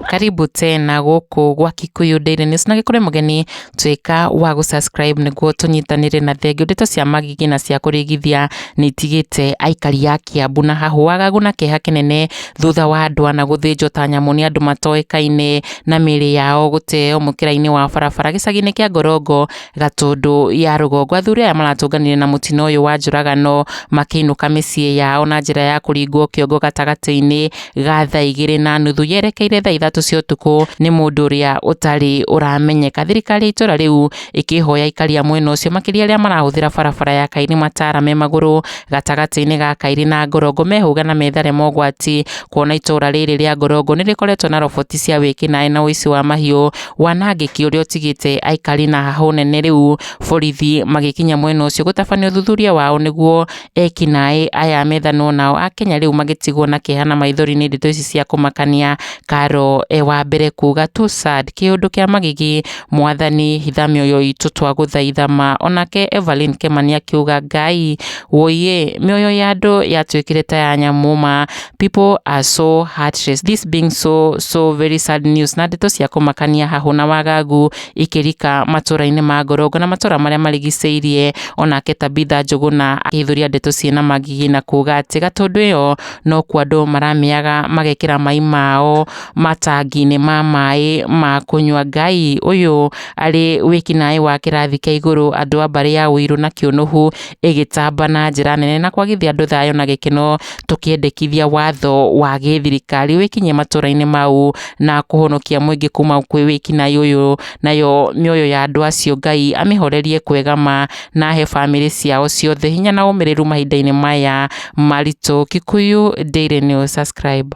karibu tena gũkũ gwa Kikuyu Daily News na gĩkũrĩ mũgeni tuĩka wa gũ subscribe nĩguo tũnyitanĩre na thengiũ ndeto cia magigi na cia kũrĩgithia nĩ itigĩte aikari a Kiambu na hahũ wagagu na kĩeha kĩnene thutha wa andũ ana gũthĩnjwo ta nyamũ nĩ andũ matoĩkaine na mĩĩrĩ yao gũteo mũkĩra-inĩ wa barabara gĩcagi-inĩ kĩa Ngorongo Gatũndũ ya rũgongo. Athuri aya maratũnganire na mũtino ũyũ wa njũragano makĩinũka mĩciĩ yao na njĩra ya kũringwo kĩongo gatagatĩ-inĩ ga thaa igĩrĩ na nuthu yerekeire thaa ithatũ cia ũtukũ nĩ mũndũ ũrĩa ũtarĩ ũramenyeka. Thirikari ya itũra rĩu ĩkĩhoya aikari a mwena ũcio makĩria arĩa marahũthĩra barabara ya Kairĩ Matara me magũrũ gatagatĩ-inĩ ga Kairĩ na Ngorongo mehũge na methare mogwati kuona itũra rĩrĩ rĩa Ngorongo nĩrĩkoretwo na roboti cia wĩkinaĩ na ũici wa mahiũ wanangĩki ũrĩa ũtigĩte aikari na hahũ nene rĩu borithi magĩkinya mwena ũcio gũtabania ũthuthuria wao nĩguo ekinaĩ aya methanwo nao a Kenya rĩu magĩtigwo na kĩeha na maithori nĩ ndeto ici cia kũmakania Karo e, wa mbere kuga too sad kĩũndũ kĩa magigi mwathani hitha mĩoyo itũ twagũthaitha ma onake Evelyn Kemani akiuga ngai woiye mĩoyo ya andũ yatuĩkire ta ya nyamũ ma People are so heartless. This being so so very sad news. Na ndeto cia kũmakania hahũ na wagagu ikĩrika matũra-inĩ ma Ngorongo na matũra marĩa marigicĩirie onake Tabitha Njũgũna akĩhithũria ndeto ciĩna mangigi na kuga atĩ gatũndũ ĩyo no kuo andũ maramĩaga magekĩra mai mao matangi-inĩ ma maĩ ma kũnyua. Ngai ũyũ arĩ wĩkinaĩ wa kĩrathi kĩa igũrũ andũ a mbarĩ ya Ũirũ na Kĩũnũhu ĩgĩtamba na njĩra nene na kwagithia andũ thayũ na gĩkeno tũkĩendekithia watho wa gĩthirikari wĩkinye matũra-inĩ mau na kũhonokia mũingĩ kuma kwĩ wĩkinaĩ ũyũ, nayo mĩoyo ya andũ acio Ngai amĩhorerie kwega ma na ahe bamĩrĩ ciao ciothe hinya na ũmĩrĩru mahinda-inĩ maya maritũ. Kikuyu Daily News, subscribe.